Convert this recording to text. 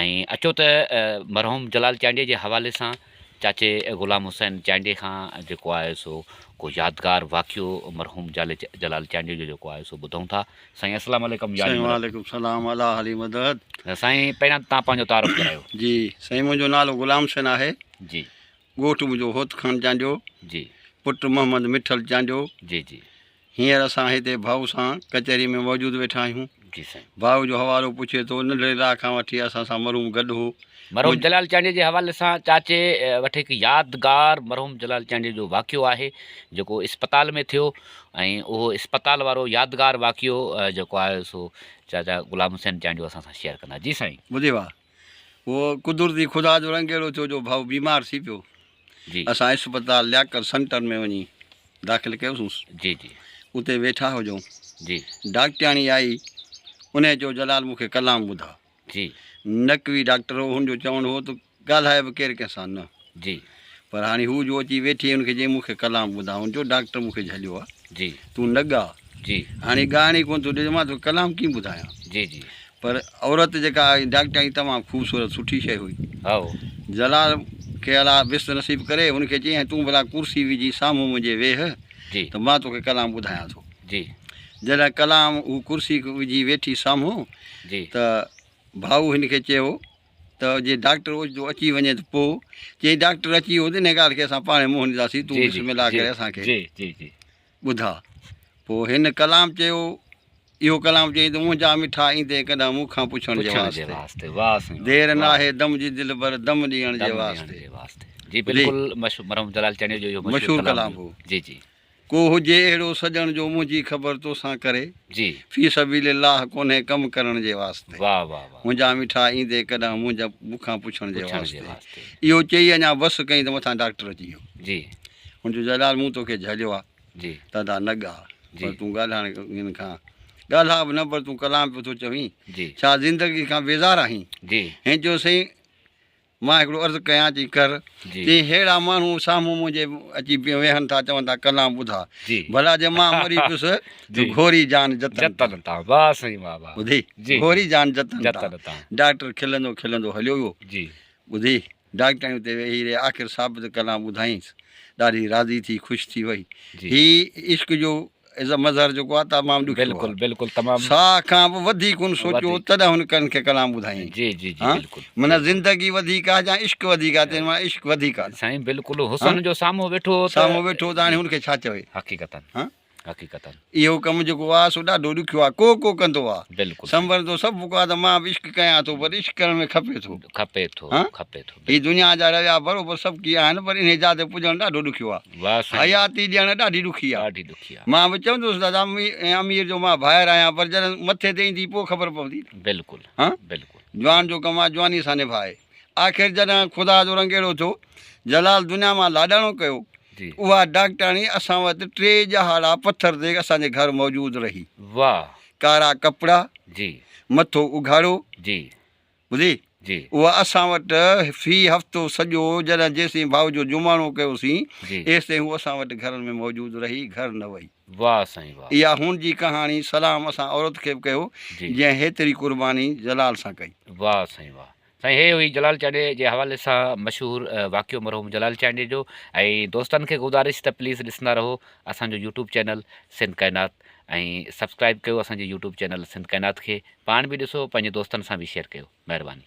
۽ اچو ته مرحوم جلال چانڊيي جي حوالي سان چاچي غلام حسين چانڊيي کان جيڪو آهي سو ڪو يادگار واقعو مرحوم جلال چانڊيي جو جيڪو آهي سو ٻڌون ٿا. سائين السلام عليڪم يار سائين وعليڪم السلام الا حلي مدد. سائين پهريان تان پنهنجو تعارف ڪرايو. جي سائين منهنجو نالو غلام حسين آهي جي ڳوٺ منهنجو هوت خان چانڊيو جي پٽ محمد مٺل چانڊيو جي جي. هينئر اسان هتي ڀائو سان ڪچهري ۾ موجود ويٺا آهيون. جي سائين. ڀائو جو حوالو پڇي ٿو، ننڍڙي ڏاهه کان وٺي اسان سان مرحوم گڏ هو. مرحوم جلال چانڊيي جي حوالي سان چاچي وٽ هڪ يادگار مرحوم جلال چانڊيي جو واقعو آهي جيڪو اسپتال ۾ ٿيو ۽ اهو اسپتال وارو يادگار واقعو جيڪو آهي سو چاچا غلام حسين چانڊيو اسان سان شيئر ڪندا. جي سائين. ٻڌي واهه. اهو قدرتي خدا جو رنگ اهڙو ٿيو جو ڀائو بيمار ٿي پيو جي اسان اسپتال لياقت سنٽر ۾ وڃي داخل ڪيوسونس جي جي اتي ويٺا هجون جي ڊاڪٽرياڻي آئي انهي چيو جلال مون کي ڪلام ٻڌاء جي نقوي ڊاڪٽر هو هن جو چوڻ هو ته ڳالهاء به ڪير ڪنهن سان نه جي. پر هاڻي هو جو اچي ويٺي هن کي چيائين مون کي ڪلام ٻڌاء هن چيو ڊاڪٽر مون کي جهليو آ جي. تون نه ڳاء جي. هاڻي ڳائڻ ئي ڪونه ٿو ڏي ته مان توکي ڪلام ڪيئن ٻڌايان. جي جي. پر عورت جيڪا آئي ڊاڪٽر آئي تمام خوبصورت سٺي شيء هئي. هائو. جلال کي الا بست نصيب ڪري هن کي چيائين تون ڀلا ڪرسي وجهي سامهون منهنجي ويهه جي. ته مان توکي ڪلام ٻڌايان ٿو. جي. جڏهن ڪلام هو ڪرسي وجهي ويٺي سامهون جي. ته ڀائو هن کي چيو. ته جي ڊاڪٽر اوچتو اچي وڃي ته پوء؟ چيائين ڊاڪٽر اچي ويو ته انهيء ڳالهه کي اسان پاڻهي منهن ڏينداسين، تون بسم الله ڪري اسان کي ٻڌاء. پوء هن ڪلام چيو. اهو ڪلام چيائين ته منهنجا مٺا ايندين ڪڏهن مون کان پڇڻ جي واسطي. دير ناهي دم جي دلبر دم ڏيڻ جي واسطي. جي بلڪل مشهور ڪلام هو. ڪو هجي اهڙو سڄڻ جو منهنجي خبر توسان ڪري. جي. في سبيل الله ڪونهي ڪم ڪرڻ جي واسطي. واهه واهه واهه. منهنجا مٺا ايندي ڪڏهن منهنجا مونکان پڇڻ جي پڇڻ جي واسطي. واسطي. اهو چئي اڃا بس ڪئين ته مٿان ڊاڪٽر اچي ويو. جي. هن چيو جلال مون توکي جهليو آ جي. ته ادا نه ڳاء پر جي. تون ڳالهائڻ هن کان ڳالهاء به نه پر تون ڪلام پيو ٿو چوين جي. ڇا زندگي کان بيزار آهين؟ جي. هن چيو سائين مان هڪڙو عرض ڪيان چي ڪر. چيائين ههڙا ماڻهو سامهون منهنجي اچي ويهن ٿا چون ٿا ڪلام ٻڌاء ڀلا جي مان مري پيس ته گهوري جان جتن تان. ٻڌي گهوري جان جتن تان. ڊاڪٽر کلندو کلندو هليو ويو. ٻڌي ڊاڪٽرياڻي اتي ويهي رهي آخر ثابت ڪلام ٻڌائينس ڏاڍي راضي ٿي خوش ٿي وئي. هي عشق جو از اي مظهر جيڪو آهي تمام ڏکيو آهي. بلڪل بلڪل تمام. ساهه کان به وڌيڪ هن سوچيو هو تڏهن هن ڪن کي ڪلام ٻڌائين. جي جي جي بلڪل. معنيٰ زندگي وڌيڪ آهي جا عشق وڌيڪ آهي تنهن مان عشق وڌيڪ آهي. سائين بلڪل حسن جو سامهون ويٺو هو ته. سامهون ويٺو هو ته هاڻي هن کي ڇا چوي. حقيقتن حقيقتن. اهو ڪم جيڪو آهي سو ڏاڍو ڏکيو آهي ڪو ڪو ڪندو آهي. بلڪل. سنبرندو سڀ ڪو آهي ته مان به عشق ڪيان ٿو پر عشق ڪرڻ ۾ کپي ٿو. کپي ٿو کپي ٿو. هي دنيا جا رويا بروبر سڀ ڪي آهن پر انهي جاء تي پڄڻ ڏاڍو ڏکيو آهي. حياتي ڏيڻ ڏاڍي ڏکي آ. مان به چوندو هوس دادا ۽ امير جو مان ڀائر آهيان پر جڏهن مٿي تي ايندي پوء خبر پوندي نه. جوان جو ڪم آ جوانيء سان نڀائي. آخر جڏهن خدا جو رنگ اهڙو ٿيو جلال دنيا مان لاڏاڻو ڪيو اها ڊاڪٽرياڻي اسان وٽ ٽي ڄهاڙا پٿر تي اسان جي گهر موجود رهي. ڪارا ڪپڙا، مٿو اگهاڙو، ٻڌي، اها اسان وٽ في هفتو سڄو جڏهن جيسين ڀائو جو جماڻو ڪيوسين، ايستائين هوء اسان وٽ گهرن ۾ موجود رهي، گهر نه وئي. واهه سائين واهه. اها هن جي ڪهاڻي، سلام اسان عورت کي به ڪيو، جنهن هيتري قرباني جلال سان ڪئي. واهه سائين واهه. سائين هيء هئي جلال چانڊيي جي حوالي سان مشهور واقعو مرحوم جلال چانڊيي جو ۽ دوستن کي گذارش ته پليز ڏسندا رهو اسان جو يوٽيوب چينل سنڌ ڪائنات. ۽ سبسڪرائب ڪيو اسان جي يوٽيوب چينل سنڌ ڪائنات کي پاڻ به ڏسو پنهنجي دوستن سان به شيئر ڪيو مهرباني.